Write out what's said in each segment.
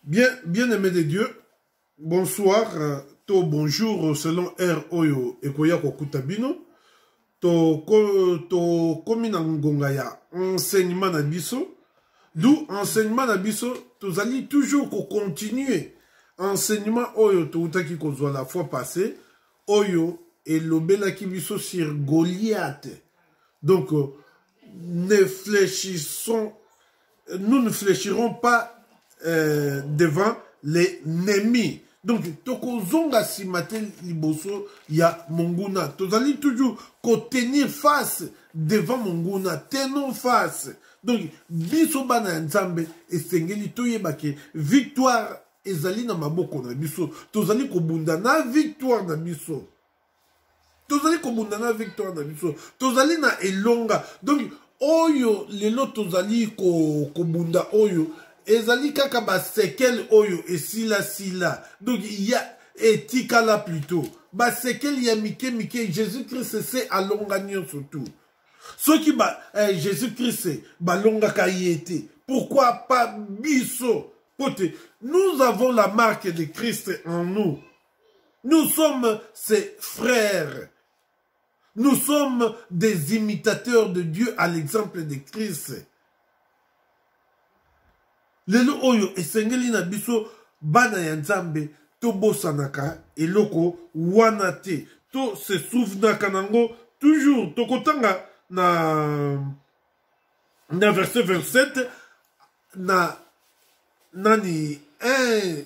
Bien, bien aimé de Dieu, bonsoir, euh, to bonjour euh, selon heure oyo ekoya kokuta bino. To ko, to komi na ngonga ya enseignement na biso. D'où enseignement na biso tozali toujours ko continuer enseignement oyo toutaki kozwa la fois passée oyo elobelaki biso sur Goliath. Donc euh, ne fléchissons nous ne fléchirons pas euh, devant les ennemis donc tokozonga nsima te liboso ya monguna tozali toujours kotenir face devant monguna tenons face donc biso bana ya nzambe esengeli toyeba ke victoire ezali na maboko na biso tozali kobunda na victoire na biso tozali kobunda na victoire na biso tozali na elonga donc oyo lelo tozali kobunda ko oyo ezali kaka basekele oyo esilasila donc ya etikala plutot basekele ya mike mike jésus krist se alonga nyonso tu soki ba, eh, jésus krist balongaka ye te pourquoi pas biso mpo te nous avons la marque de krist en nous Nous sommes ses frères. Nous sommes des imitateurs de Dieu à l'exemple de Christ. lelo oyo esengeli na biso bana ya nzambe tobosanaka eloko wana te to se souvenaka nango toujours tokotanga na na verset 27 na nani eh,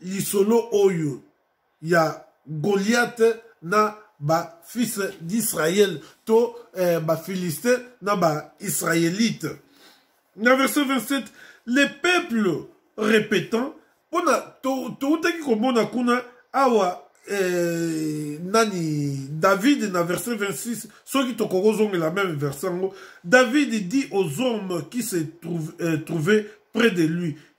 lisolo oyo ya goliate na bafils d'israel to eh, baphiliste na baisraélite na verset 27 le peuple répétant mpo na toutaki komona kuna awa eh, nani david na verset 26 soki tokoki kozongela meme verset yango david dit aux hommes qui se trouve, eh, trouvaient près de lui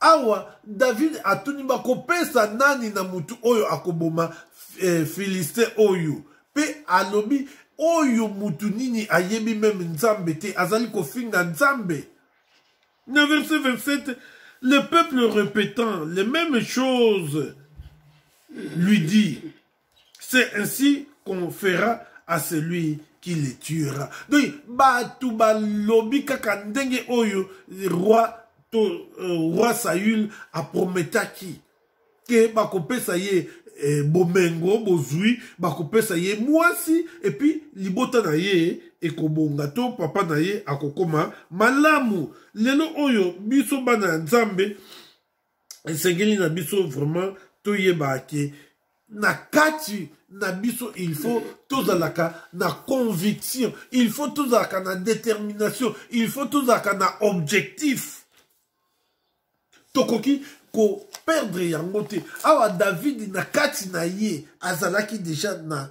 Awa David atuni bakopesa nani na motu oyo akoboma eh, Filiste oyo, mpe alobi oyo motu nini ayebi meme Nzambe te, azali kofinga Nzambe. Na verset 27, le peuple répétant les mêmes choses lui dit c'est ainsi qu'on fera à celui qui les tuera donc bato balobi kaka ndenge oyo roi to euh, roi saül aprometaki ke bakopesa ye eh, bomengo bozwi bakopesa ye mwasi epuis libota na ye ekobonga to papa na ye akokoma malamu lelo oyo biso bana ya nzambe esengeli na biso vraiment toyeba ke na kati na biso il faut tozalaka na conviction il faut tozalaka na détermination il faut tozalaka na objectif tokoki koperdre yango te awa davidi na kati na ye azalaki deja na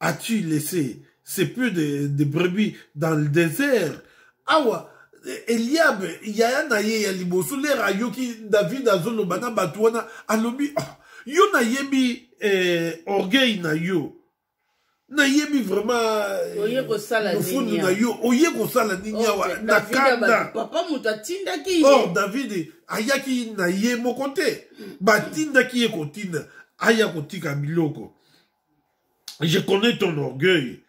as-tu laissé c'est plus de, de brebis dans le désert awa eliabe yaya na ye ya liboso lere ayoki david azoloba na bato wana alobi oh, yo nayebi eh, orgueil na yo nayebi vraimantfundu eh, na yo oye kosala nini awa na kanda or david ayaki na ye moko te batindaki ye kotinda aya kotika biloko Je connais ton orgueil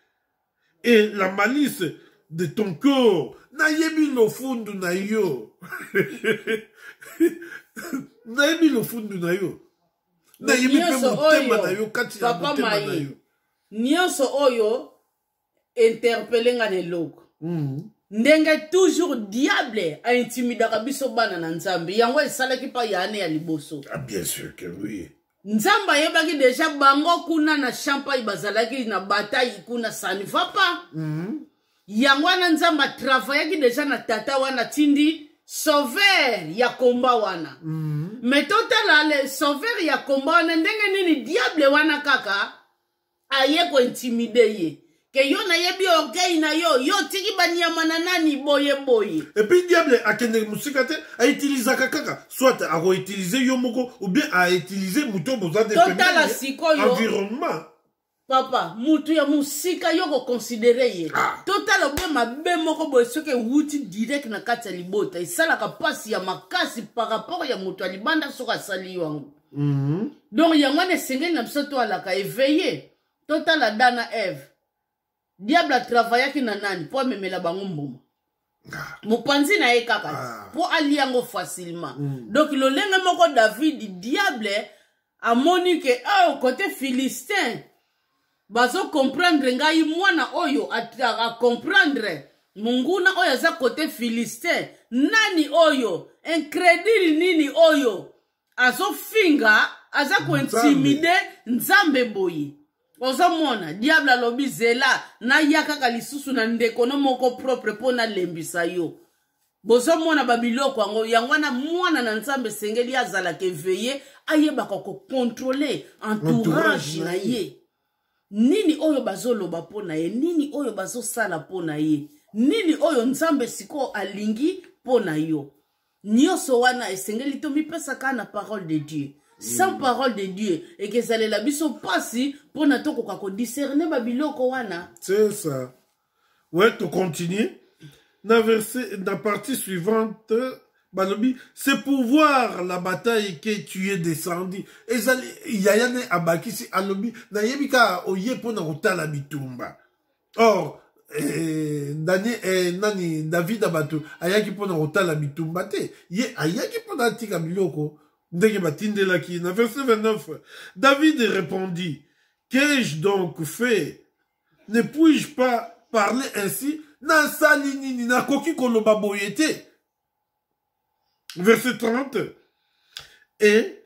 et la malice de ton corps. Nayebi lofundu na yo. Nayebi lofundu na yo. Nayebi pe motema na yo kati ya motema na yo. Nyoso oyo interpele nga na eloko mm. ndenge toujours diable aintimidaka biso bana na nzambe yango esalaki mpa ya ane ya liboso ah, bien sûr que oui nzambe ayebaki deja bango kuna na champai bazalaki na batai kuna saniva pa mm. yango wana nzambe atravayaki deja na tata wana tindi sauveur ya komba wana mm. me totala le sauveur ya komba wana ndenge nini diable wana kaka aye ko intimide ye ke yo nayebi orgueil na yo yo otiki banyama na nani boye boye epuis diable akendeke mosika te autilisaka kaka soit akoutilize yo moko ou bien autilize moto oyo boza totala sikoyo environnement papa motu ya mosika yo koconsidere ye ah. totala obe mabe moko boye soki ewuti direct na kati ya libota esalaka mpasi ya makasi par rapport ya moto ya libanda soki asali yo yango mm -hmm. donc yango wana esengeli na biso toalaka eveille totala da na eve diable atravayaki na nani mpo amemela bango mbuma ah. mopanzi na ye kaka ah. mpo alia yango facilement mm. donc lolenge moko davidi diable amoni ke oh, kote philistin bazokomprendre ngai mwana oyo akomprendre monguna oyo aza kote philistin nani oyo incredile nini oyo azofinga aza kointimide nzambe boye ozomona diable alobi zela naya kaka lisusu na ndeko no moko propre mpo nalembisa yo bozomona babiloko yango yango wana mwana na nzambe esengeli azalaka eveye ayebaka kokontrole entourage na ye nini oyo bazoloba mpo na ye nini oyo bazosala mpo na ye nini oyo nzambe sikoyo alingi mpo na yo nyonso wana esengeli tomipesa kaka na parole de dieu sans mm. parole de dieu ekezalela biso mpasi mpo na tokoka kodiscerne babiloko wana c'est ça ouais tocontinue na verset na partie suivante balobi c'est pour voir la bataille que tu es descendu ezali yaya ne abakisi alobi nayebi kaka oye mpo na kotala bitumba or eh, Daniel, eh, nani david abatu ayaki mpo na kotala bitumba te ye ayaki mpo na atika biloko ndenge batindelaki na verse 29 david répondit qu'ai-je donc fait ne puis-je pas parler ainsi nasali nini nakoki koloba boye te verse 30 et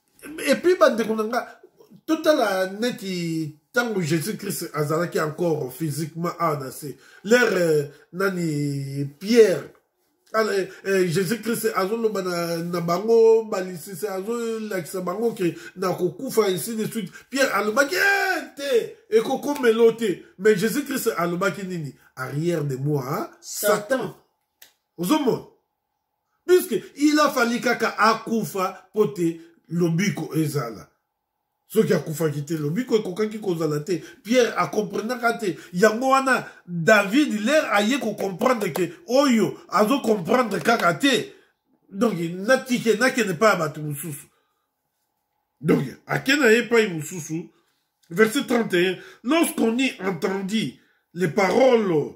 epuis bandeko na nga totala neti ntango jésus christ azalaki encore physiquement awa na se lere euh, nani pierre ah, euh, euh, jésus christ azoloba na, na bango balisisi azolakisa bango ke na kokufa ainsi de suite pierre alobaki eh, te ekokomelo te mais jésus christ alobaki nini arrière de moi hein? satan ozomona puisque il a fallu kaka akufa mpo te lobiko ezala soki akufaki te lobiko ekokaki kozala te pierre akomprenaka te yango wana david lere aye kocomprendre ke oyo azocomprendre kaka te donc natike nakende epai ya bato mosusu donc ake na ye epai mosusu verset 31 lorsqu'on y entendit les paroles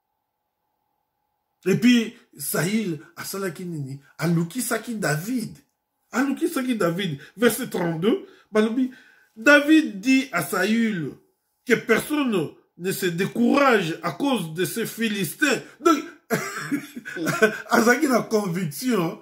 epuis saül asalaki nini alukisaki david alukisaki david verset 32 balobi david dit à saül que personne ne se décourage à cause de ces philistins donc azalaki na conviction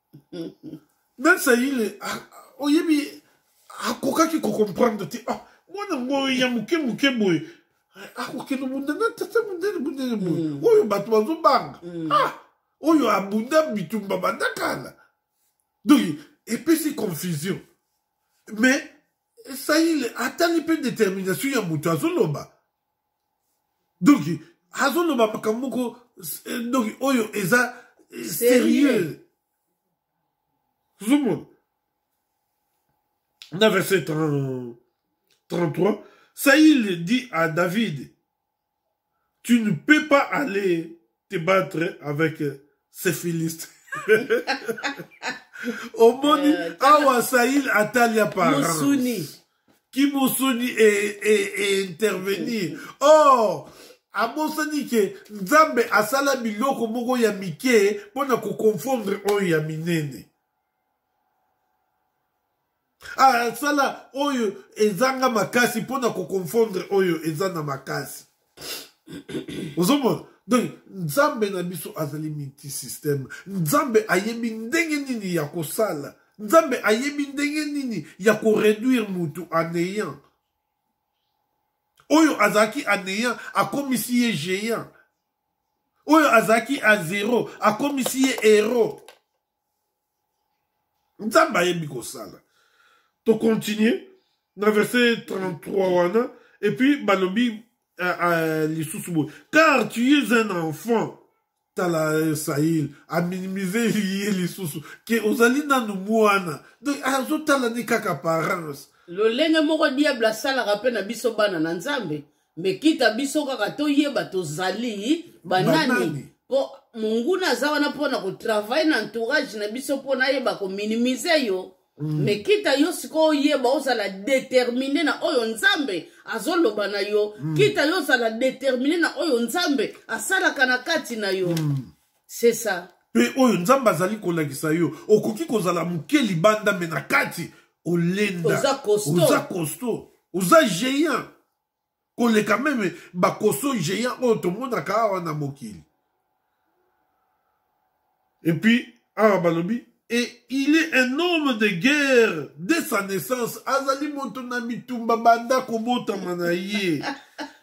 même ça il est ah, ah, oyebi akokaki ah, kocomprendre te ah mwana ngo ya moke moke boye akokende bunda na tata mundele bundele boye mm. oyo bato bazobanga mm. ah oyo abunda bitumba bandakala donc epesi confusion mais esaile atali mpe determination ya moto azoloba donc azoloba makambo moko eh, donc oyo eza eh, sérieux ozomona na verset 33 saïl dit à david Tu ne peux pas aller te battre avec euh, ces philistes. omoni euh, awa saïl atali apparence qui musuni est, est, est intervenir oh abosani ke nzambe asala biloko moko ya mike mpo na koconfondre oyo ya minene asala ah, oyo ezanga makasi mpo na koconfondre oyo eza na makasi ozomona donc nzambe na biso azali multisystème nzambe ayebi ndenge nini ya kosala nzambe ayebi ndenge nini ya koreduire motu anéant oyo azalaki anéant akomisi ye géant oyo azalaki a zero akomisi ye héros nzambe ayebi kosala tocontinue na verset 33 wana epuis balobi uh, uh, lisusu boye car tu es un enfant tala sahil aminimise ye lisusu ke ozali nanu mwana donc azotala ni kaka parence lolenge moko diable asalaka mpe na biso bana na nzambe me kita biso kaka toyeba tozali banani, banani? po monguna aza wana mpo na kotravaille na entourage na biso mpo nayeba kominimize yo mm. me kita yo sikoyo oyeba ozala determine na oyo nzambe azoloba na yo mm. kita yo ozala determine na oyo nzambe asalaka na kati na yo mm. c'est ça mpe oyo nzambe azali kolakisa yo okoki kozala moke libanda me na kati olenda oza costo oza géant koleka meme bakoso géant oyo tomonaka awa na mokili epuis awa balobi et il est un homme de guerre de sa naissance azali moto na bitumba banda kobotama na ye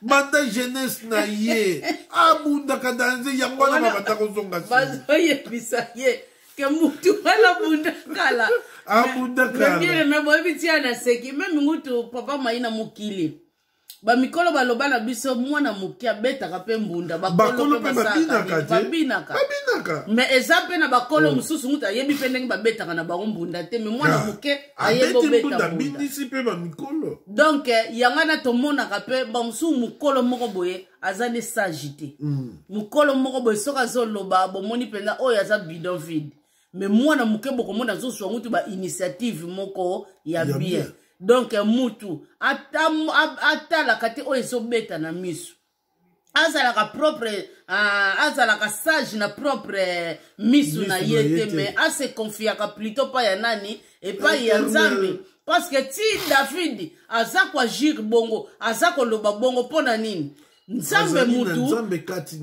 banda jeunesse na ye abundaka danze yango wana babanda kozonga bazoyebisa ye ke mutu wana bunda kala abunda ah, kala me boyebi tia na seki meme ngutu papa mai na mokili bamikolo baloba na biso mwana moke abetaka mpe mbunda bakolo mpe babinaka me eza mpe na bakolo oh. mosusu ngutu ayebi mpe ndenge babetaka na bango mbunda te me mwana ah. moke ayebi obeta mbunda donc eh, yango wana tomonaka mpe bamosusu mokolo moko boye aza nde sage te mm. mokolo moko boye soki azoloba bomoni mpenza oyo aza bidon vide me mwana moke bokomona azozwa mutu bainitiative moko ya bien donk mutu atalaka te oyo ezobeta na miso azalaka propre uh, azalaka sage na propre misu na ye te me aseconfiaka plutot mpa ya nani epai ya nzambe parceke ti davidi aza koagir bongo aza koloba bongo mpo na nini nzambe mutu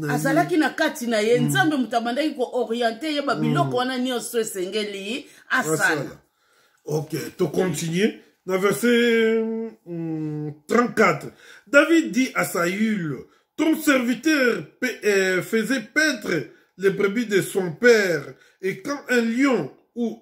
azalaki na kati na ye mm. nzambe mutu abandaki kooriente ye babiloko mm. wana nyonso esengeli asala ok tocontinue na verset 34 mm, david dit à saül ton serviteur euh, faisait paître les brebis de son père et quand un lion ou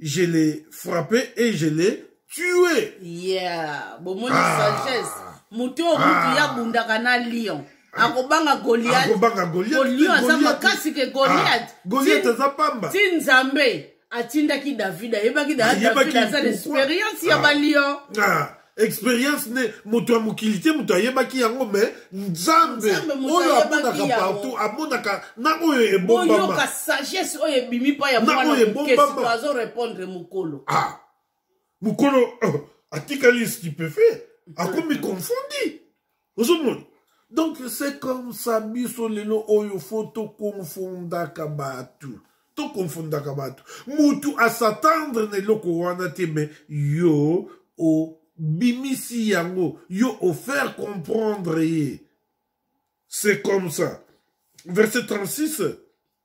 je l'ai frappé et je l'ai tué. Yeah, bon, mon ah. sagesse. Moto oyo mutu ya ah. bundaka na lion. Ah. akobanga goliatgoliat aza makasi ke goliat goliat aza pamba ti nzambe atindaki david ayebaki david aza na experience ya balion experience ne moto ya mokili te moto ayebaki yango me nzambe oyo amonaka partout amonaka na oyo ebombama sagesse oyo ebimi mpa ya mwana mokesi azo répondre mokolo ah mokolo oh, atikali stupefait akomi confondi ozomona donc c'est comme ça biso lelo oyo fo tokonfondaka bato tokonfondaka bato motu asatendre na eloko wana te me yo obimisi yango yo ofaire comprendre ye c'est comme ça verset 36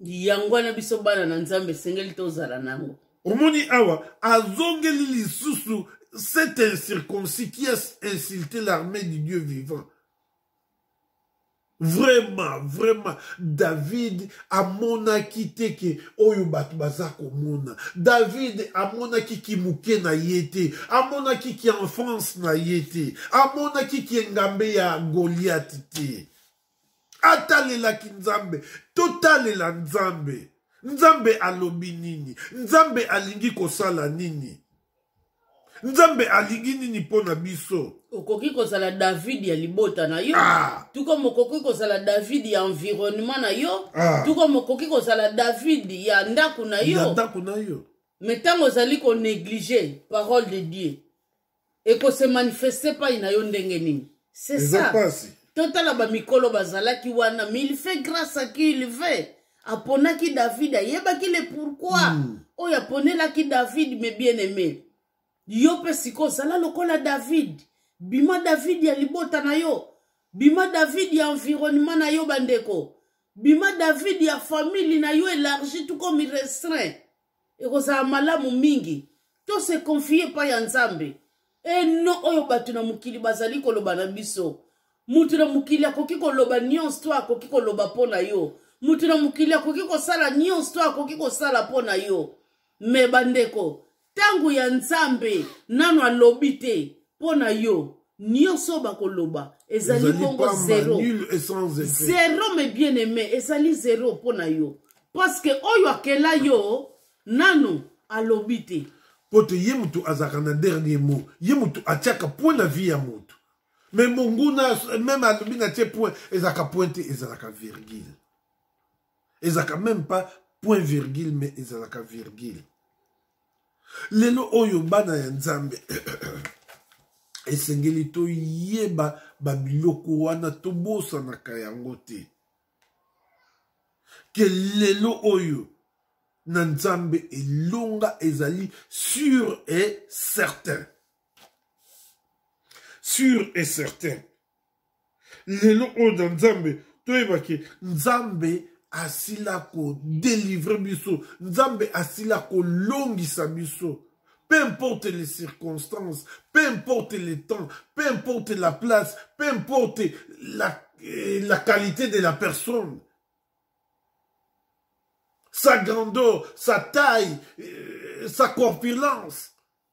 yango wana biso bana na nzambe esengeli tozala nango omoni awa azongeli lisusu cet incirconcis qui a insulté l'armée du dieu vivant vraiment vraiment david amonaki te ke oyo bato baza komona david amonaki kimuke na ye te amonaki kienfance na ye te amonaki kiengambe ya goliate te atalelaki nzambe totalela nzambe nzambe alobi nini nzambe alingi kosala nini nzambe alingi nini mpo na biso okoki kozala david ya libota na yo ah. tuko mokoki kozala david ya environnement na yo ah. tuko mokoki kozala david ya ndako na yo ndako na yo me ntango ozali konéglige parole de dieu ekose manifeste epai na yo ndenge nini c'est ça totala bamikolo bazalaki wana mais il fait grâce à qui il veut aponaki david ayebaki le pourquoi mm. oyo aponelaki david me bien aimé yo mpe sikoyo zala lokola david bima david ya libota na yo bima david ya environnement na yo bandeko bima david ya famille na yo élargi tout comme restreint ekozala malamu mingi to se confie epai ya nzambe eno oyo bato na mokili bazali koloba na biso moto na mokili akoki koloba nyonso to akoki koloba mpo na yo moto na mokili akoki kosala nyonso to akoki kosala mpo na yo me bandeko ntango ya nzambe nano alobi te mpo na yo nioso bakoloba ezali bongo zero zero me bien aime ezali zero mpo na yo parceke oyo akela yo nanu alobi te mpo te ye moto azalaka na dernier mot ye moto atiaka point na vie ya moto me monguna meme alobi na tie point ezalaka point te ezalaka virgule ezalaka même pas point virgule mais ezalaka virgule lelo oyo bana ya nzambe esengeli toyeba babiloko wana tobosanaka yango te ke lelo oyo na nzambe elonga ezali sur et certain sur et certain lelo oyo na nzambe toyeba ke nzambe asila kodelivre biso nzambe asila kolongisa biso peu importe les circonstances peu importe le temps peu importe la place peu importe la, eh, la qualité de la personne sa grandeur sa taille euh, sa corpulence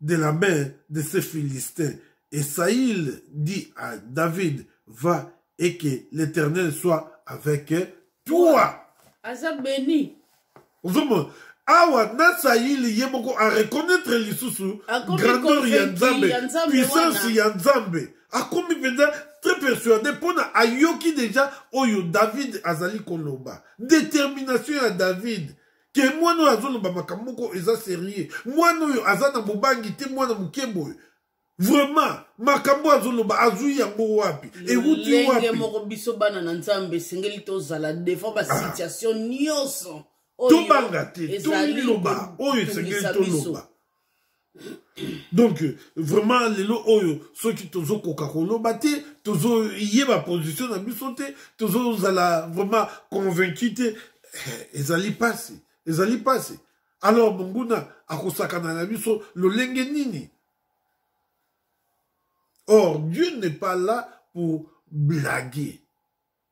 de la main de ces Philistins. Et Saïl dit à David, va et que l'Éternel soit avec toi. Aza béni. Ozomona awa na saili ye moko areconnaitre lisusu grandeur ya nzambe puissance ya nzambe akomi mpenza très persuadé mpo na ayoki deja oyo david azali koloba détermination ya david ke mwana oyo azoloba makambo moko eza serieux mwana oyo aza na bobangi te mwana moke boye vraiment makambo azoloba azwi yango wapi ewuti wapilenge moko biso bana na nzambe esengeli tozala devant basituation ah. nyonso tobanga te toliloba oyo esengeli toloba donc vraiment lelo oyo soki tozokoka koloba te tozoyeba position na biso te tozozala vraiment convaincu te eh, ezali mpasi ezali mpasi alors monguna akosakana na biso lolenge nini or dieu n'est pas là pour blaguer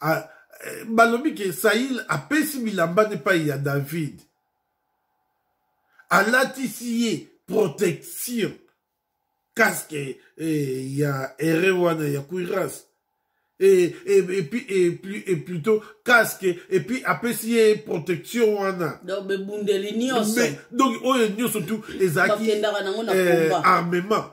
ah, eh, balobi ke saïl apesi bilamba nde epai ya david alatisi ye protection casque eh, ya ere wana ya cuirasse et, et, et, puis, et, plus, et plutôt casque et puis apesi ye protection wana donc bebundeli nyonso donc oyo nyonso tu ezalaki eh, armement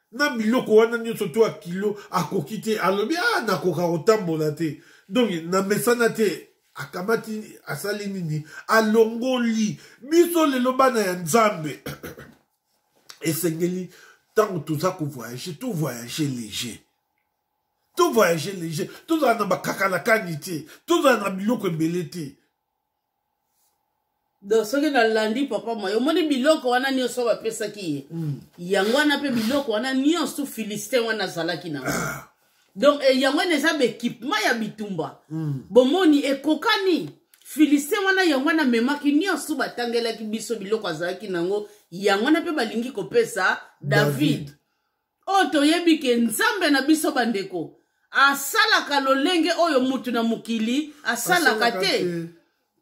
na biloko wana nyonso to ya kilo akoki te alobi a ah, nakoka kotambola te donk namesana te akamati asali nini alongoli biso lelo bana ya nzambe esengeli ntango toza kovoyage to voyage léger to voyage léger tozala na bakakalakani te tozala na biloko ebele te donc soki nalandi papa maye omoni biloko wana nyonso bapesaki ye mm. yango wana mpe biloko wana nyonso philistin wana azalaki na ah. donc eh, yango wana eza baekipement ya bitumba mm. bomoni ekokani philistin wana yango wana amemaki nyonso batangelaki biso biloko azalaki na yango yango wana mpe balingi kopesa david, david. oyo toyebi ke nzambe na biso bandeko asalaka lolenge oyo mutu na mokili asalaka te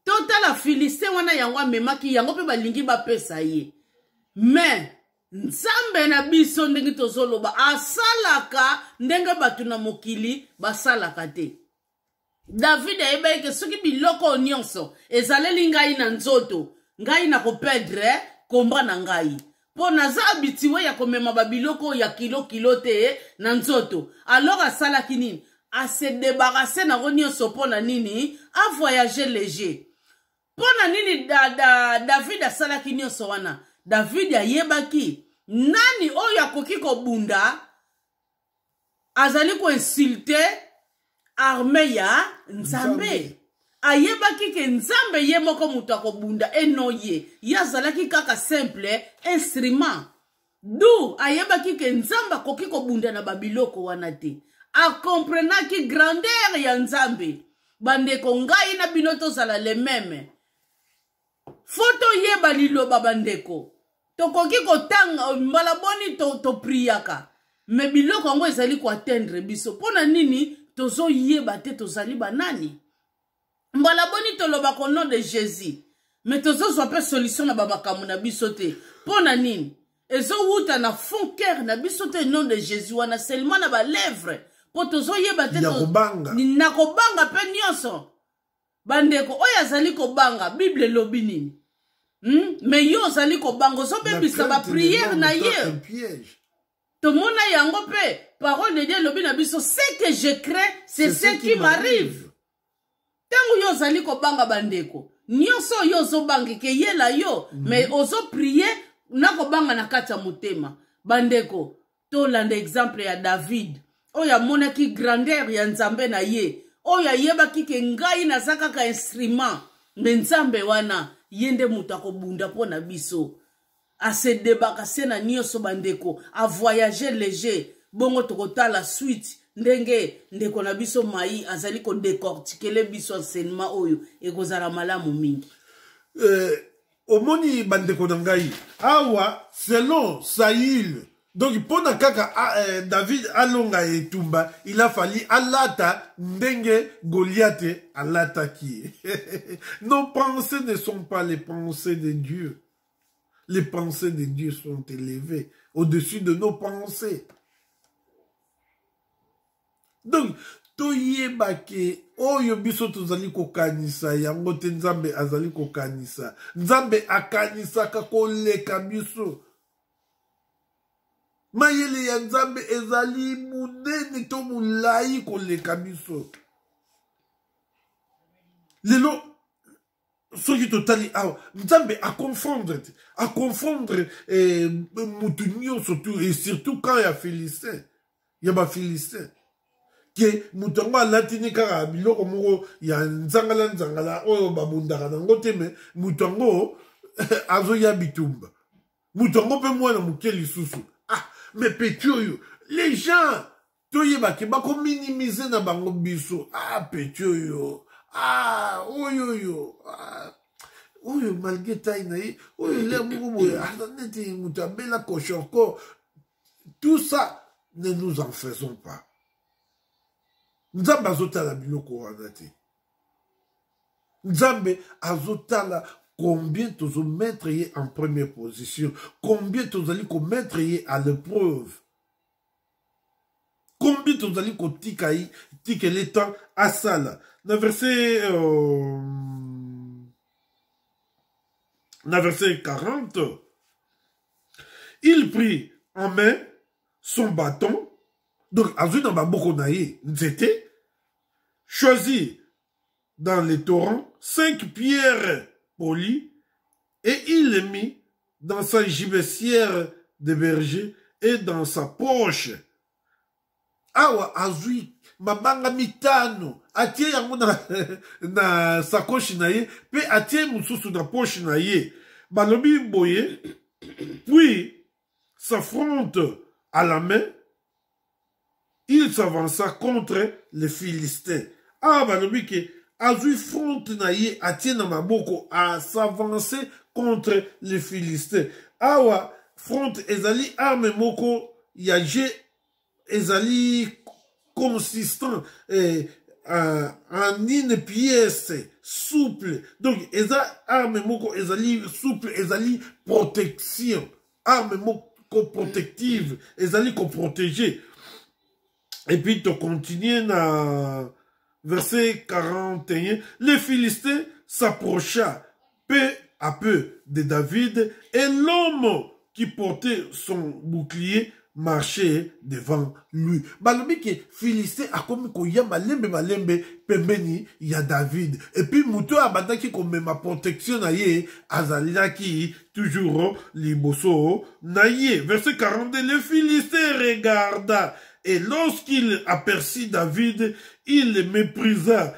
totala filistin wana yango amemaki yango mpe balingi bapesa ye me nzambe na biso ndenge tozoloba asalaka ndenge bato na mokili basalaka te david ayebaki ke soki biloko oyo nyonso ezaleli ngai na nzoto ngai nakoperdre komba na ngai mpo naza abitue ya komema babiloko ya kilo kilo te na nzoto alors asalaki nini ase debarase nango nyonso mpo na nini avoyage leger mpo na nini da, da, david asalaki nyonso wana david ayebaki nani oyo akoki kobunda azali ko insulte arme ya nzambe ayebaki ke nzambe ye moko moto akobunda eno ye ye azalaki kaka simple instrument du ayebaki ke nzambe akoki kobunda na babiloko wana te akomprenaki grandeur ya nzambe bandeko ngai na bino tozala le meme fo toyeba liloba bandeko tokoki kotanga mbala boni topriyaka to me biloko yango ezali koatteindre biso mpo na nini tozoyeba te tozali banani mbala boni tolobaka au nom de jésus me tozozwa mpe solution na bamakambo na biso te mpo na nini ezowuta na fond cœur na biso te nom de jésus wana seulement na balèvre mpo tozoyeba te na kobanga mpe nyonso bandeko oyo azali kobanga bible elobi nini hmm? me yo ozali kobanga ozobebisa bapriere na ye tomona yango mpe parole de dieu elobi na biso ce que je crains c'est ce qui m'arrive ntango yo ozali kobanga bandeko nyonso oyo ozobanga ekeyela yo mm -hmm. me ozoprie na kobanga na kati ya motema bandeko tolanda exemple ya david oyo amonaki grandeur ya nzambe na ye oyo ayebaki ke ngai naza kaka instrument me nzambe wana ye nde moto akobunda mpo na biso asedebaka se na nyonso bandeko avoyage leger bongo tokotala suite ndenge ndeko na biso mai azali kodecortikele biso enseignement oyo ekozala malamu mingi euh, omoni bandeko na ngai awa selon saül donc mpo na kaka ah, eh, david alonga etumba il a fali alata ndenge goliate alataki nos pensées ne sont pas les pensées de dieu les pensées de dieu sont élevées au-dessus de nos pensées donc toyeba ke oyo biso tozali kokanisa yango te nzambe azali kokanisa nzambe akanisaka koleka biso mayele ya nzambe ezali monene to molai koleka biso lelo soki totali awa nzambe aconfondre te aconfondre eh, motu nyonso tu et surtout camp ya philistin ya bafilistin ke moto yango alatini kaka biloko moko ya nzangala nzangala oyo babundaka nango te me moto yango azoya bitumba moto yango mpe mwana moke lisusu ah me peti oyo les gens toyeba ke bako minimiser na bango biso ah petit oyo ah oyo oyo ah. oyo malgré taille na ye oyo elia moko boye aza neti moto abela koshorko tout ça ne nous en faisons pas nzambe azotala biloko wana te nzambe azotala combien tozomettre ye en première position combien tozali komettre ye à l'épreuve kombi tozali kotika ye tikele temps asala na verset euh, na verset 40 il prit en main son bâton donc azwi na maboko na ye nzete choisi dans les torrents cinq pierres polies et il le mit dans sa gibecière de berger et dans sa poche awa azwi mabanga mitano atie yango na, na sakoshi na ye mpe atie mosusu na poche na ye balobi boye puis s'affrontent à la main, il s'avança contre les Philistins. Ah, balobi que azui front na ye atie na maboko a s'avancer contre les Philistins. Awa front ezali arme moko ya jeu ezali consistant eh, uh, en une pièce souple donc eza arme moko ezali souple ezali protection arme moko protective ezali koprotege et puis tocontinue na verset 41 les philistins s'approcha Peu à peu de David et l'homme qui portait son bouclier marchait devant lui. Balobi ke Philistin akomi koya malembe malembe pembeni ya David. Et puis moto oyo abandaki komema protection na ye azalaki toujours liboso na ye. Verset 42, le Philistin regarda Et lorsqu'il aperçut David, il le méprisa,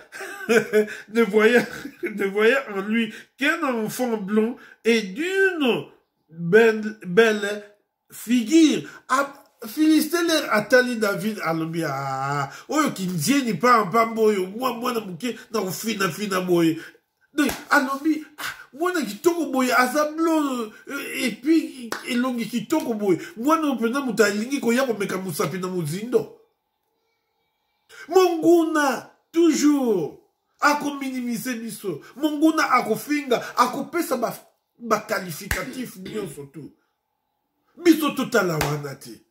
ne, voyant, ne voyant en lui qu'un enfant blond et d'une belle, belle figure. Ah, filisteler atali david alobi aa oyo kindieni mpamba mpamba oyo mwa mwana moke na kofinafina boye donc alobi ah, mwana kitoko boye aza blo eh, epuis elongi kitoko boye mwana oyo mpenza moto alingi koya komeka mosapi na mozindo monguna toujours akominimise biso monguna akofinga akopesa baqualificatif ba nyonso tu biso totala wana te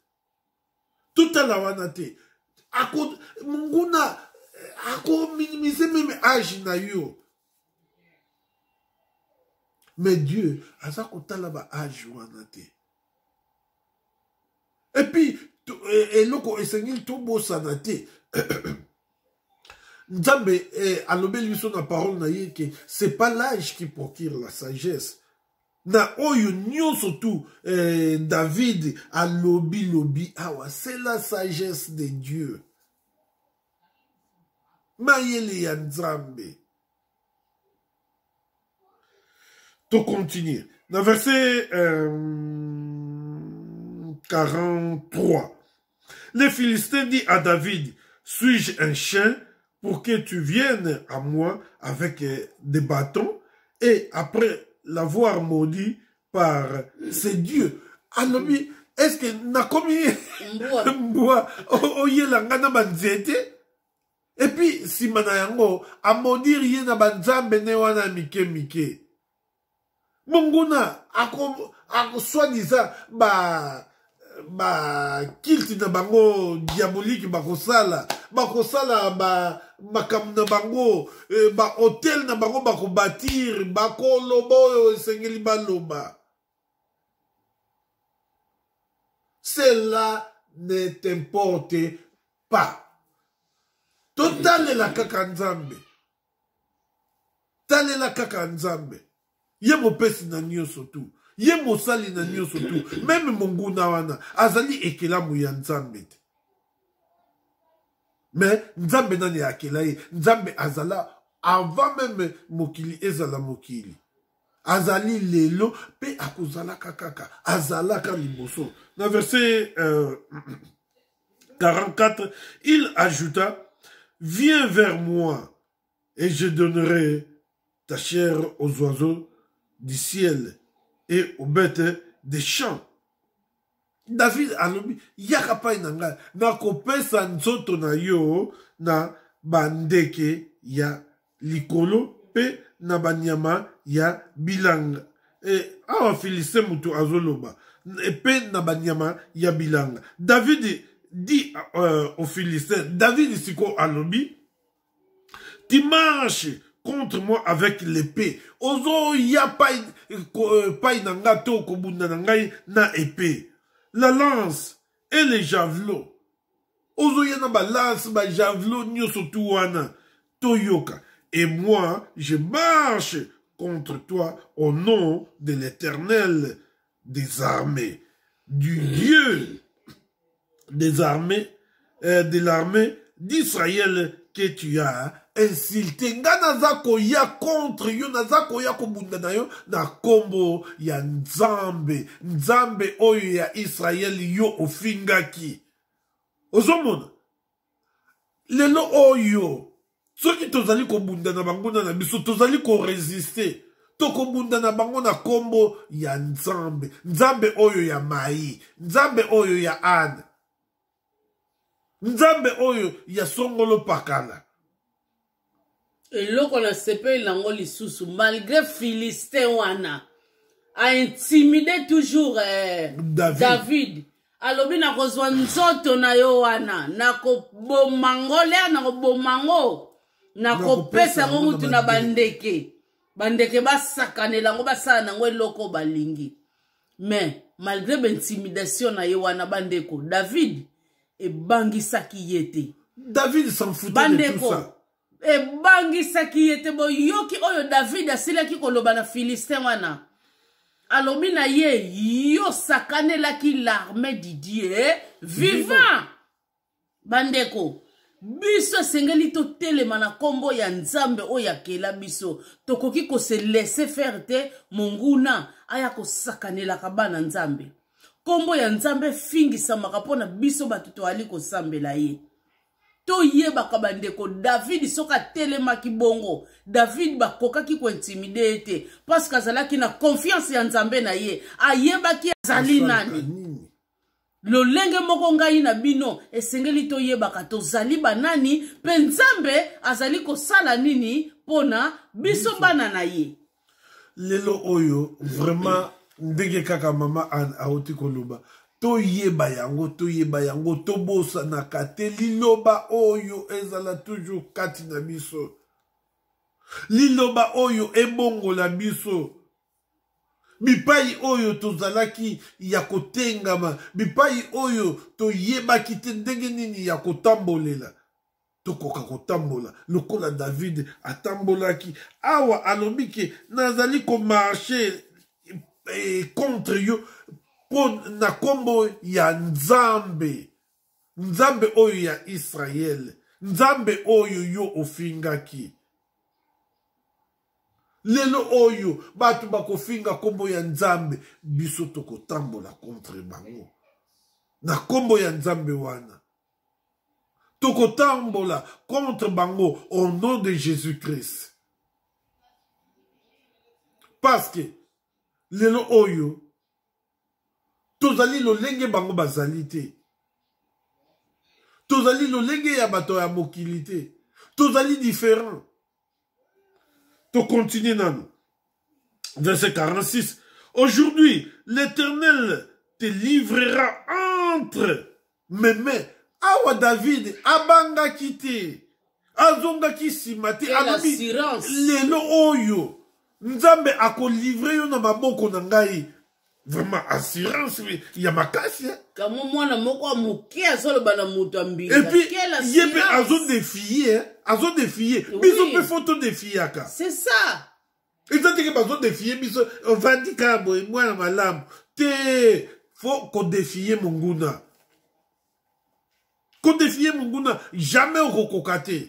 totala wana te ako monguna eh, ako minimiser meme age na yo mais dieu aza kotala ba age wana te epuis eh, eloko esengeli tobosana te nzambe eh, alobeli biso na parole na ye ke c'est pas l'âge qui procure la sagesse na oyo nyonso tu eh, david alobi lobi awa c'est la sagesse de dieu mayele ya nzambe tocontinue na verset euh, 43 Le Philistin dit à David, suis-je un chien pour que tu viennes à moi avec euh, des bâtons et après l'avoir maudit par ses dieux alobi est-ce que nakomi mbwa oyela ngai na banzete epuis nsima na yango amodire ye na banzambe ne wana mike mike monguna ako, ako soit disant ba ba kilte na bango diabolique bakosala bakosala ba makambo na bango eh, bahotel na bango bakobatire bakoloba oyo esengeli baloba cela ne t'importe pas totalela kaka nzambe talela kaka nzambe ye mopesi na nyonso tu ye mosali na nyonso tu meme monguna wana azali ekelamu ya nzambe te me nzambe nani akela ye nzambe azala avant meme mokili ezala mokili azali lelo mpe akozalaka kaka azalaka liboso na verse euh, 44, il ajouta, Viens vers moi et je donnerai ta chair aux oiseaux du ciel et aux bêtes des champs. David alobi yaka pai na ngai nakopesa nzoto na yo na bandeke ya likolo mpe na banyama ya bilanga e, awa filiste moto azoloba mpe e, na banyama ya bilanga davidi di uh, euh, au philistin davidi sikoyo alobi tu marche contre moi avec l'épée ozoya pai, euh, pai na ngai to kobunda na ngai na épée la lance et les javelots ozoya na balance bajavelo nyonso tu wana toyoka et moi je marche contre toi au nom de l'éternel des armées du dieu des armées euh, de l'armée d'israël que tu as insulte nga naza koya contre yo naza koya kobunda na yo na nkombo ya nzambe nzambe oyo ya israele yo ofingaki ozomona lelo oyo soki tozali kobunda na banguna na biso tozali koresiste tokobunda na bango na nkombo ya nzambe nzambe oyo ya mai nzambe oyo ya ane nzambe oyo ya songolo pakala eloko na sepeli nango lisusu malgré philistin wana aintimide toujours eh, david, david. alobi nakozwa nzoto na yo wana nakoboma ngo lea nakoboma ngo nakopesa yango mutu na bandeke bandeke basakanela yango basala na yango eloko balingi mais malgré baintimidation na ye wana bandeko david ebangisaki ye te david bandeko ebangisaki ye te boyoki oyo david asilaki koloba na philistin wana alobi na ye yo sakanelaki l'armée didie vivant bandeko biso esengeli totelema na nkombo ya nzambe oyo akela biso tokoki kose laisse faire te monguna aya kosakanelaka bana nzambe nkombo ya nzambe efingisamaka mpo na biso bato toyali kosambela ye toyebaka bandeko david soki atelemaki bongo david bakokaki kointimide ye te parceke azalaki na konfiance ya nzambe na ye ayebaki azali nani lolenge moko ngai na bino esengeli toyebaka tozali banani mpe nzambe azali kosala nini mpo na biso bana na ye lelo oyo vraiment ndenge kaka mama anne auti koloba toyeba yango toyeba yango tobosanaka te liloba oyo ezala toujours kati na biso liloba oyo ebongola biso bipai oyo tozalaki ya kotengama bipai oyo toyebaki te ndenge nini ya kotambolela tokoka kotambola lokola david atambolaki awa alobi ke nazali komarshe eh, contre yo mpo na nkombo ya nzambe nzambe oyo ya israele nzambe oyo yo ofingaki lelo oyo bato bakofinga nkombo ya nzambe biso tokotambola contre bango na nkombo ya nzambe wana tokotambola contre bango au nom de jésus christ parce que lelo oyo tozali lolenge bango bazali te tozali lolenge ya bato ya mokili te tozali différent To continuer nanu. Verset 46. Aujourd'hui, l'Éternel te livrera entre mes mains. Awa David abangaki te. Azongaki nsima te. Alobi lelo oyo Nzambe akolivre yo na maboko na ngai. vraiment assurance ya makasi eh? kamo mwana moko ya moke azoloba na moto ya mbingaye mpe azodefie eh? azodefie biso mpe fo todefiaka c'est ça eza teke bazodefie biso ovandi kaka boye mwana malamu te fo kodefie monguna kodefie monguna jamais okokoka te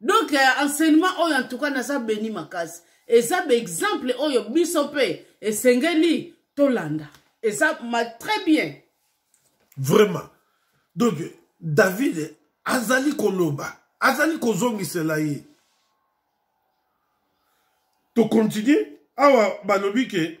donc euh, enseignement oyo en tout cas naza beni makasi eza baexemple oyo biso mpe esengeli tolanda eza ma très bien vraiment donc david azali koloba azali kozongisela ye tokontinue awa balobi ke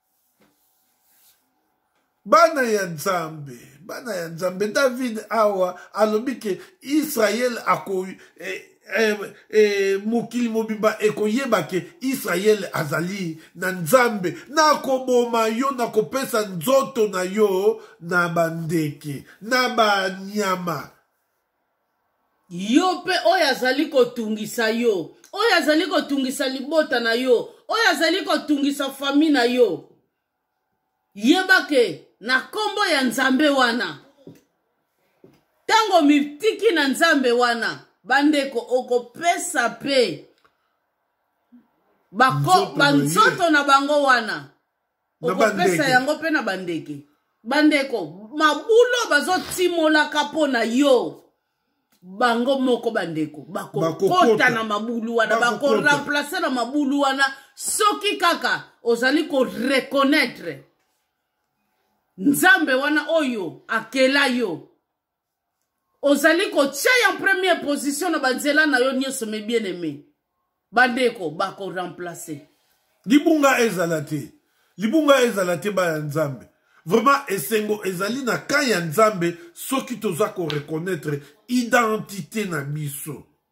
bana ya nzambe bana ya nzambe david awa alobi ke israele ako eh, eh, eh, mokili mobimba ekoyeba ke israele azali na nzambe nakoboma yo nakopesa nzoto na yo na bandeke na banyama yo mpe oyo azali kotungisa yo oyo azali kotungisa libota na yo oyo azali kotungisa fami na yo yeba ke na nkombo ya nzambe wana ntango mitiki na nzambe wana bandeko okopesa mpe banzoto na bango wana na okopesa bandeke yango mpe na bandeke bandeko mabulo bazotimolaka mpo na yo bango moko bandeko bakokota Bakokota. na mabulu wana Bakokota. bakoremplace na mabulu wana soki kaka ozali koreconnaitre nzambe wana oyo akela yo ozali kotya ya première position na banzela na yo nyonso me bien aimé bandeko bakoremplace libunga ezala te libunga ezala te baya nzambe vraiment esengo ezali na kan ya nzambe soki toza koreconnaitre identité na biso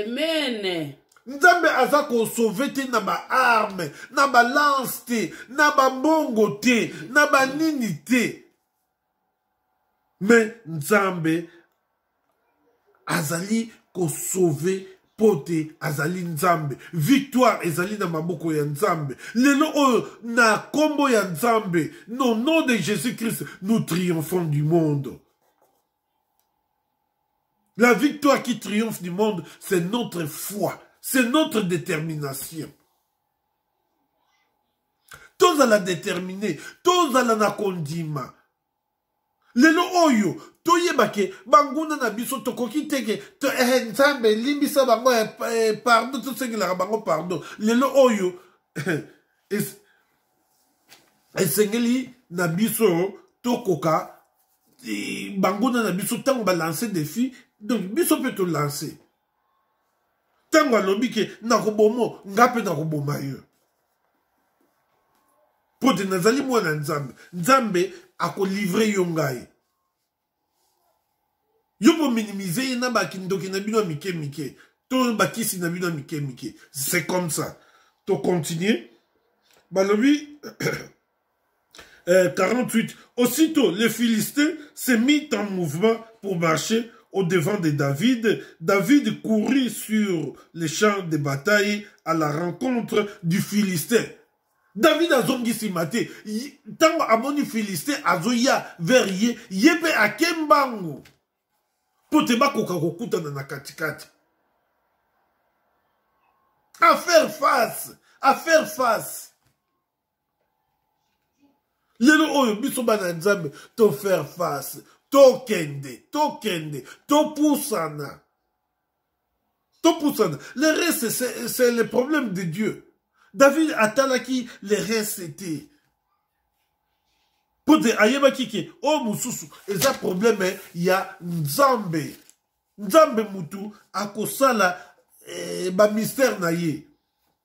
amen nzambe aza kosauve te na baarme na balance te na bambongo te na banini te me nzambe azali kosauve mpo te azali nzambe victoire ezali na maboko ya nzambe lelo oyo na nkombo ya nzambe no nom de jésus christ nous triomphons du monde La victoire qui triomphe du monde, c'est notre foi, c'est notre détermination. Tous à la déterminer, tous à la nakondima. lelo oyo toyeba ke banguna na biso tokoki te ke to, eh, nzambe limbisa bango eh, eh, pardon tosengelaka bango pardon lelo oyo eh, es, esengeli na biso tokoka banguna na biso ntango balanse defi donc biso mpe tolanse ntango alobi ke nakobomo nga mpe nakoboma yo mpo te nazali mwana nzambe nzambe akolivre yo ngai yo bominimize ye na bakindoki na bino ya mike mike to bakisi na bino ya mike mike c'est comme ça tocontinue balobi euh, 48, aussitôt les Philistins se mit en mouvement pour marcher au devant de David. David courut sur les champs de bataille à la rencontre du Philistin. David azongisi mate ntango amoni Philistin azoya vers ye ye mpe akembango mpo te bakoka kokutana na katikati à faire face à faire face lelo oyo biso bana nzambe tofaire face tokende tokende topusana topusana le reste c'est le problème de dieu david atalaki le reste te mpo te ayebaki ke oyo mosusu eza probleme ya nzambe nzambe mutu akosala eh, bamystère na ye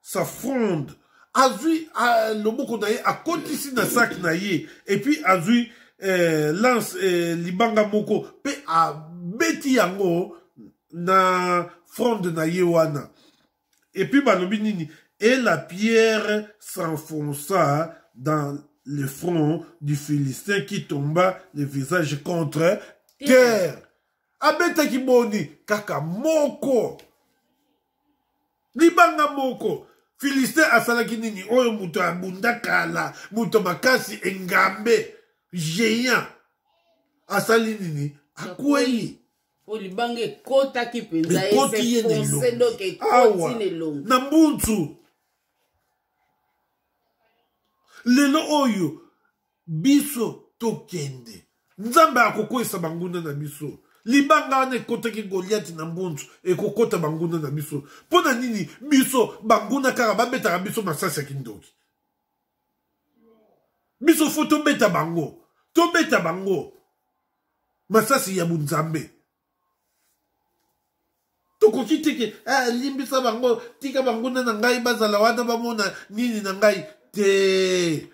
sa fronde azwi euh, loboko na ye akotisi na saki na ye epuis azwi euh, lance euh, libanga moko mpe abeti yango na fronde na ye wana epuis balobi nini et la pierre s'enfonça dans le front du philistin qui tomba le visage contre terre abetaki boni kaka moko libanga moko filistin asalaki nini oyo moto abunda kala moto makasi engambe géant asali nini akwei po libanga ekotaki mpenza ekoti ye na mbunzu lelo oyo biso tokende nzambe akokweyisa banguna na biso libanga wana ekotaki goliati na mbunzu ekokota banguna na biso mpo na nini biso banguna kaka babetaka biso masasi ya kindoki biso fo tobeta bango tobeta bango masasi ya bonzambe tokoki te ke eh, limbisa bango tika banguna na ngai bazala wana bamona nini na ngai te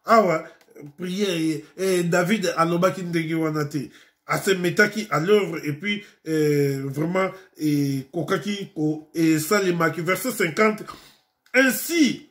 awa priere eh, david alobaki ndenge wana te asemetaki à l'œuvre et puis eh, vraiment ekokaki eh, esalemaki verset 50 ainsi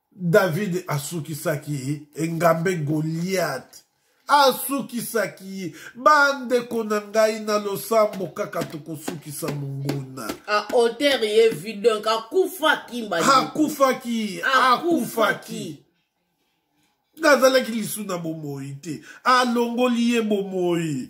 David asukisaki ye engambe Goliath asukisaki ye bandeko na ngai na losambo kaka tokosukisa monguna aotere ye vi donc akufaki akufaki akufaki nazalaki lisu na bomoi te alongoli ye bomoi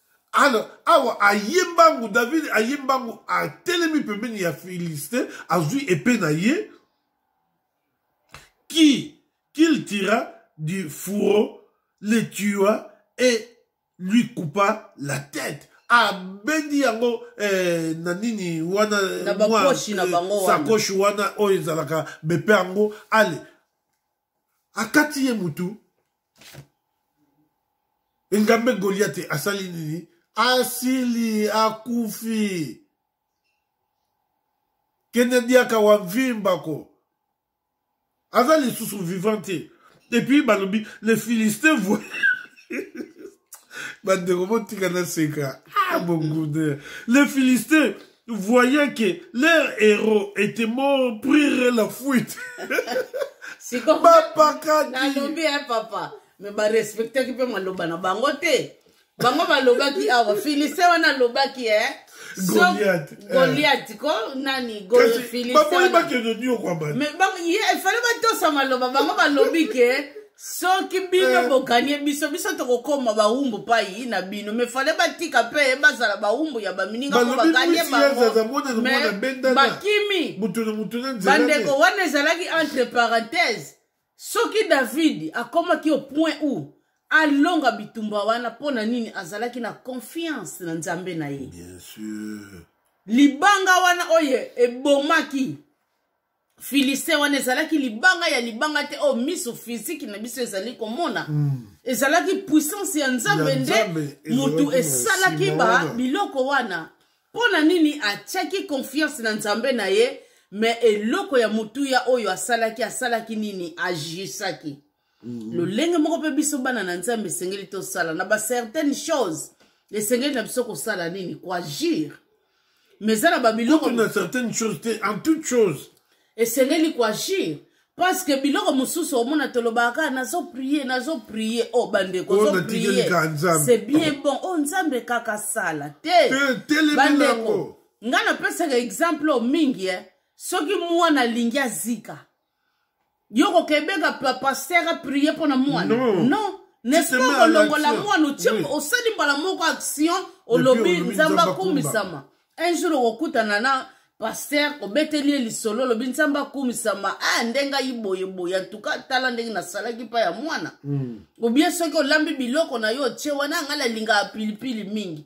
alors awa aye mbangu david aye mbangu atelemi pembeni ya philistin azwi epe na ye qui qu'il tira du fourreau le tua et lui coupa la tête abendi yango eh, na nini wana sakoshi wana oyo ezalaka bepe yango ale akati ye mutu engambe goliate asali nini asili akufi kende diaka wa mvimbako aza lisusu vivant te epuis balobi le philistin voi bandeko botika naseka ah, bongude le philistin voyant que leur héros était mort prirent la fuite bapakaki nalobi ya papa me barespectaki mpe maloba na bango te bango balobaki awa filise wana alobaki e eh? goliati eh. ko nani filise wana ye efale batosa maloba bango balobi ke soki bino eh. boganye biso biso tokokoma bawumbu pai na bino me fale batika mpe bazala bawumbu ya bamininga mpo baganye bangobakimi bandeko wana ezalaki entre parenthèse soki david akomaki au point où alonga bitumba wana mpo na nini azalaki na confiance na nzambe na ye libanga wana oyo ebomaki filistin wana ezalaki libanga ya libanga te oyo oh, miso fiziki na biso ezali komona mm. ezalaki puissance ya nzambe nde motu esalaki ba biloko wana mpo na nini atyaki konfiance na nzambe na ye me eloko ya motuya oyo asalaki asalaki nini agisaki Mm. lolenge moko mpe biso bana na nzambe esengeli tosala na bacertaine chose esengeli na biso kosala nini koagir mais eza na babiloko na certaine chose te en toute chose esengeli koagir parce que biloko mosusu omona tolobaka kaka nazo prie nazo prie o oh, bandeko oh, c'est bien bon o oh, nzambe kaka sala te bandeko ngai napesaka exemple oyo mingi e soki mwana alingi azika yo kokebeka pasteur aprie mpo na mwana non, non. n'est-ce pas kolongola mwana otie osali mbala moko action olobi nzambe akumisama un jour okokutana na paster obeteli ye lisolo olobi nzambe akumisama ah nde ngai boyeboye antuka tala ndenge nasalaki mpa ya mwana mm. obie soki olambi biloko na yo otie wana ngai nalingaka pilipili mingi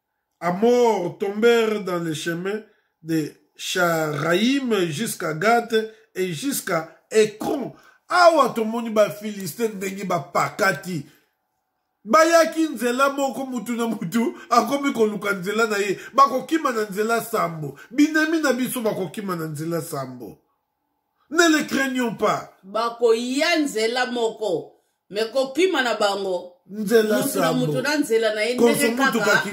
à mort tombèrent dans le chemin de Sharaïm jusqu'à Gath et jusqu'à Ekron. Awa tomoni ba Philistin ndenge ba pakati. Bayaki nzela moko mutu na mutu akomi koluka nzela na ye bakokima na nzela sambo binemi na biso bakokima na nzela sambo ne les craignons pas bakoya nzela moko me kokima na bango nzela sambo moto na nzela na ye ndenge kaka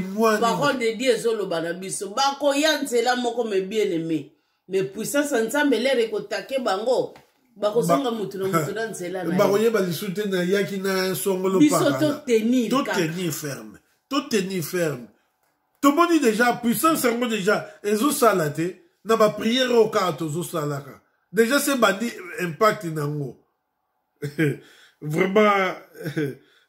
parole de dieu ezoloba na biso bakoya nzela moko me bien aime me puissance ya nzambe lere ekotake bango bakozonga motu na motu na nzela na bakoyeba lisusu te nayaki na songolo biso totenir totenir ferme totenir ferme tomoni deja puissance yango deja ezosala te na bapriere oyo kaka tozosalaka deja se bandi impact na yango vraiment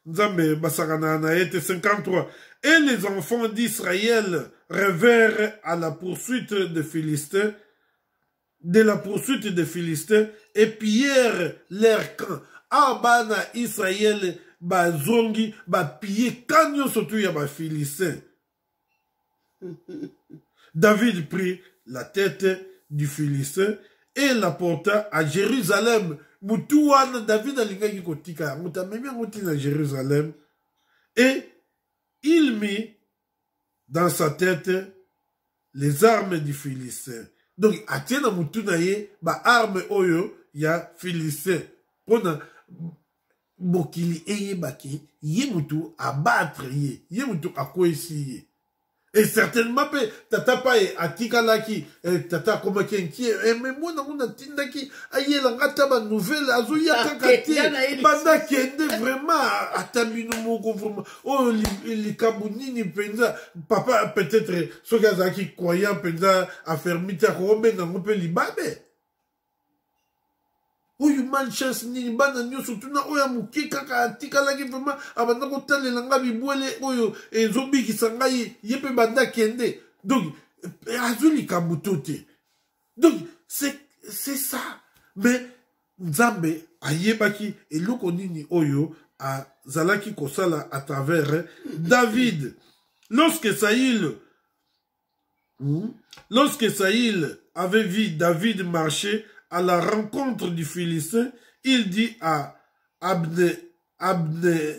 nzambe basakanaka na ye te 53 et les enfants d'israël revèrent à la poursuite de philistin de la poursuite des Philistins et pillèrent leur camp. Awa bana Israël bazongi bapiye camp nyonso tu ya bafilistin. David prit la tête du Philistin et la porta à Jérusalem. Mutu wana David alingaki kotika yango tamemi yango ntina Jérusalem et il mit dans sa tête les armes du philistin donc atie na motu na ye baarme oyo ya philistin mpo na mokili eyebaki ye motu abatre ye ye motu akweyisi ye e certainement mpe tata paye atikalaki e, tata akomaki enkie e, me mwana ngo natindaki ayela nga ata banouvelle azoya kaka te banda kende vraiment ata bino moko vraiment oyo likambo nini mpenza papa peut-être soki azalaki croyant mpenza afermi te akokobenga yango mpe libabe oyo man chance nini bana nyonso tuna oyo ya moke kaka atikalaki vraimen abanda kotalela ngai bibwele oyo ezobikisa ngai ye mpe banda kende donc eh, azwi likambo to te donc c'est c'est ça mais nzambe ayebaki eloko nini oyo azalaki kosala à travers david lorsque saïl hmm, lorsque saïl avait vu david marcher à la rencontre du philistin il dit à abne abne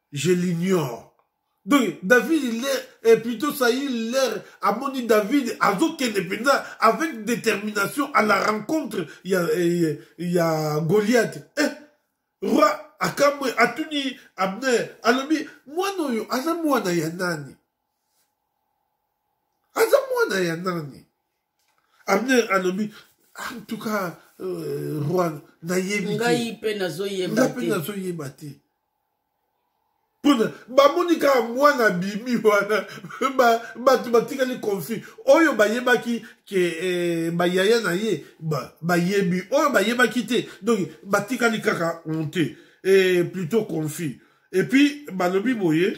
je l'ignore donc david il est et plutôt saïl l'air amoni david azokende mpenza avec détermination à la rencontre ya, ya, ya goliath eh, roi akamwe atuni abner alobi mwana oyo aza mwana ya nani aza mwana ya nani abner alobi en tout cas euh, roi nayebi ngai mpe nazoyeba te pona bamoni kaka mwana bimi wana bato batikali confus oyo bayebaki ke eh, bayaya na ye bayebi oyo bayebaki te donc batikali kaka honte eh, plutôt confus epuis balobi boye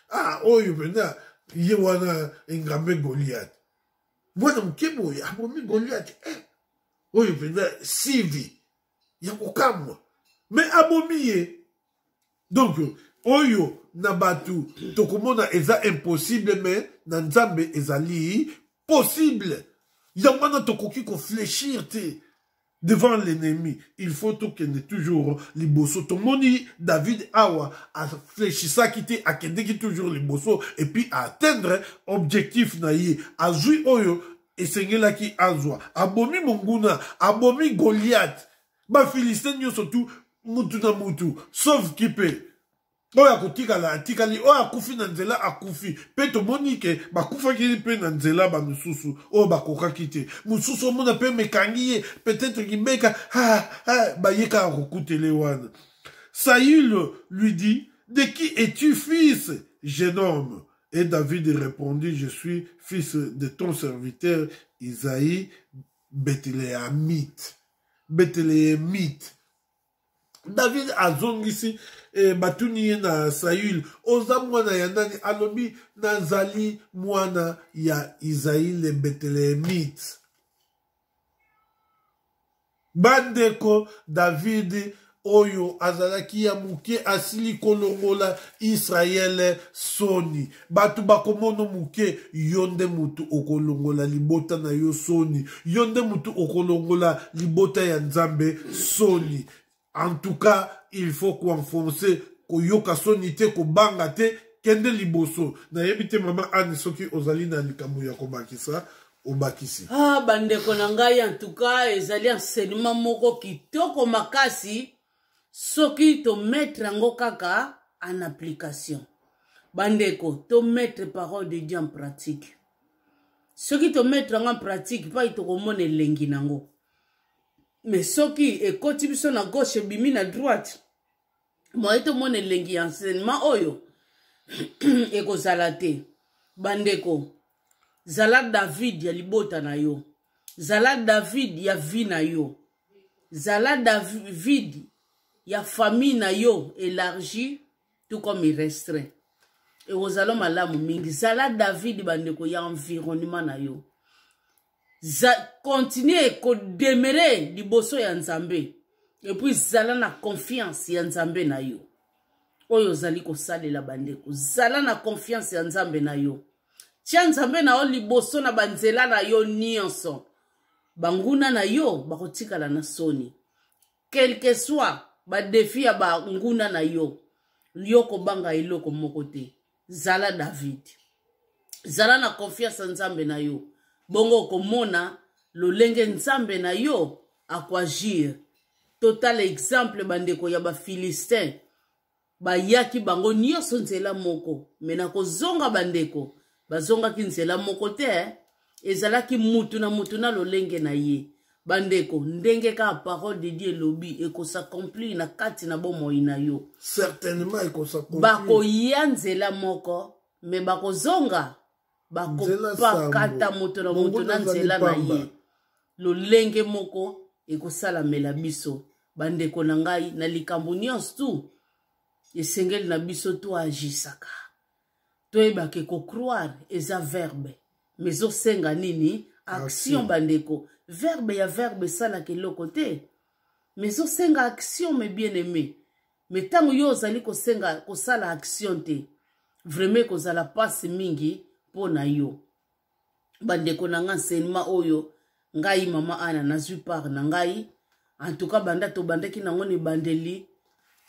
ah oyo mpenza ye wana engambe goliate mwana moke boye abomi goliate eh, oyo mpenza sivi ya kokamwa me abomi ye donk oyo na bato tokomona eza impossible me na nzambe ezali possible yango wana tokoki koflechir te devant l'ennemi il faut tokende toujours liboso tomoni david awa aflechisaki te akendeki toujours liboso epuis aatteindre objectif na ye azwi oyo esengelaki azwa abomi monguna abomi goliath bafilistin nyonso tu mutu na mutu sauve kipe oyo akotikala atikali oyo akufi na nzela akufi mpe tomoni ke bakufaki mpe na nzela bamosusu oyo bakokaki te mosusu omona mpe mekangi ye peut-être kimeka ah, ah, baye kaka kokutele wana saül lui dit de qui es-tu fils jeune homme et david répondit je suis fils de ton serviteur isaïe bethléemite bethléemite david azongisi e, batuni ye na saül oza mwana ya nani alobi nazali mwana ya isai le betelehemite bandeko david oyo azalaki ya moke asili kolongola israele soni bato bakomono moke yo nde moto okolongola libota na yo soni yo nde moto okolongola libota ya nzambe soni en tout cas il faut koenfonce koyoka soni te kobanga te kende liboso nayebi te mama anne soki ozali na likambo ya kobakisa obakisi ah, bandeko na ngai en tout cas ezali enseignement moko kitoko makasi soki tometre yango kaka en application bandeko tometre parole de dieu en pratique soki tometre yango en pratique mpaki tokomona elengi na yango me soki ekoti biso na gauche ebimi na droite moye tomona elengi ya enseignement oyo ekozala te bandeko zala david ya libota na yo zala david ya vi na yo zala david ya famille na yo élargie tout comme il restreint ekozala malamu mingi zala david bandeko ya environnement na yo continue kodemere liboso ya nzambe epuis zala na confiance ya nzambe na yo oyo ozali kosalela bandeko zala na confiance ya nzambe na yo tya nzambe na yo liboso na banzela na yo nyonso banguna na yo bakotikala na soni quelque soit badefi ya banguna na yo yo kobanga eloko moko te zala david zala na konfianse ya nzambe na yo bongo okomona lolenge nzambe na yo akoagir totala exemple bandeko ya bafilistin bayaki bango nyonso nzela moko me na kozonga bandeko bazongaki nzela moko te ezalaki mutu na mutu na lolenge na ye bandeko ndenge kaka parole de dieu elobi ekosakomplir na kati na bomoi na yo certainement ekosakomplir bakoya nzela moko me bakozonga bakopakata moto na moto na nzela na ye lolenge moko ekosalamela biso bandeko na ngai na likambo nyonso tu esengeli na biso toagisaka toyebaka ekocroire eza verbe mais ezosenga nini action bandeko verbe ya verbe esalaka eloko te mais ezosenga action me bien aimé me ntango yo ozali kosenga kosala action te vraimen ekozala mpasi mingi mpo na yo bandeko na ngai enseignement oyo ngai mama ana nazwi part na ngai en tout cas banda tobandaki nango na ebandeli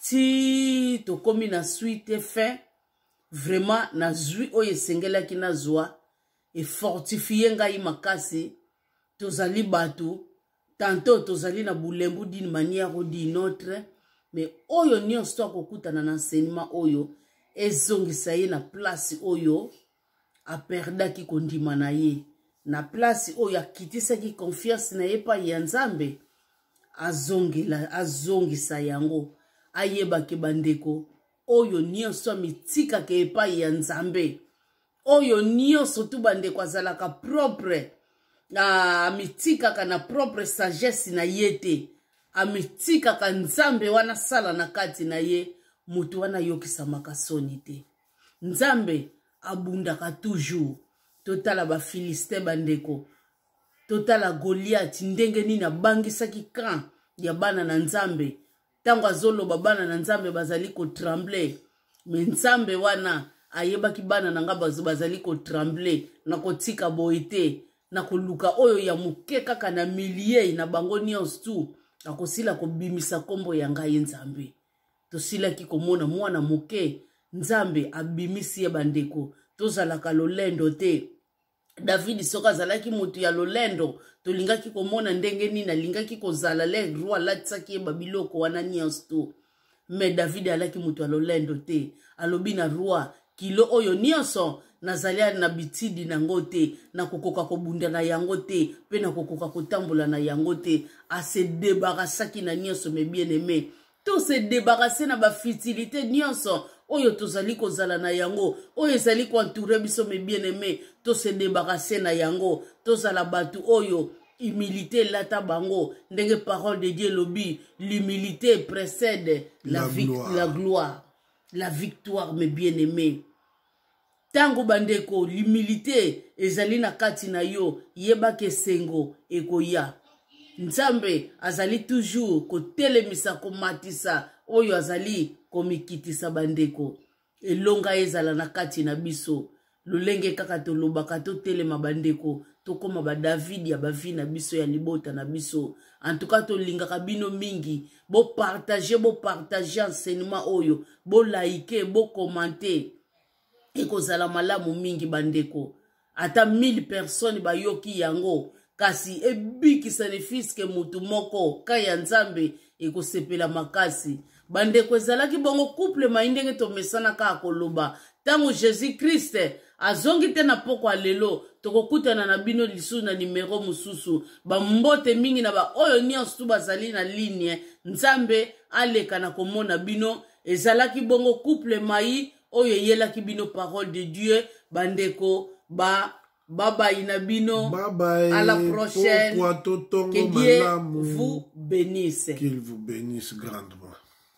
ti tokomi na suite fin vraiment nazwi oyo esengelaki nazwa efortifie ngai makasi tozali bato tanto tozali na bulembu d'une manière ou d'une autre mais oyo nyonso to akokutana na enseignement oyo ezongisa ye na place oyo aperdaki kondima na ye na place oyo akitisaki confiance na ye epai ya nzambe azongela azongisa yango ayebaki bandeko oyo nyonso amitikaka epai ya nzambe oyo nyonso tu bandeko azalaka propre amitikaka na propre sagesse na ye te amitikaka nzambe wana sala na kati na ye moto wana ayokisamaka soni te nzambe abundaka toujours totala bafilistin bandeko totala goliate ndenge nini abangisaki camp ya bana na nzambe ntango azoloba bana na nzambe bazali kotremble me nzambe wana ayebaki bana na ngai bazo bazali kotremble na kotika boye te na koluka oyo ya moke kaka na miliei na bango nyonso tu akosila kobimisa nkombo ya ngai nzambe tosilaki komona mwana moke nzambe abimisi ye bandeko tozalaka lolendo te davidi soki azalaki moto ya lolendo tolingaki komona ndenge nini alingaki kozala le roi alatisaki ye babiloko wana nyonso to me davidi alaki moto ya lolendo te alobi na roi kilo oyo nyonso nazali na bitidi na yango te nakokoka kobunda na yango te mpe nakokoka kotambola na yango te asedebarasaki na nyonso me bien aime to se debarrasser na ba futilité nyonso oyo tozali kozala na yango oyo ezali koentoure biso me bien aime tose debarase na yango tozala bato oyo humilité elata bango ndenge parole de dieu elobi l'humilité précède la, la, gloire. la gloire la victoire me bien aime ntango bandeko limilite ezali na kati na yo yebaka esengo ekoya nzambe azali toujours kotelemisa komatisa oyo azali komikitisa bandeko elonga ezala na kati na biso lolenge kaka tolobaka totelema bandeko tokóma badavidi ya bavi na biso ya libota na biso antuka tolingaka bino mingi bopartage bopartage enseignement oyo bolaike bokomante ekozala malamu mingi bandeko ata 1000 personnes bayoki yango kasi ebikisa ne fiske motu moko ka ya nzambe ekosepela makasi bandeko ezalaki bongo couple mai ndenge tomesana kaka koloba ntango jesus christ azongi te na mpokwa lelo tokokutana na bino lisusu na nimero mosusu bambote mingi na baoyo nyonso tu bazali na ligne nzambe aleka na komona bino ezalaki bongo couple mai oyo eyelaki bino parole de dieu bandeko ba babayi na bino Bye à la prochaine que dieu vous bénisse qu'il vous bénisse grandement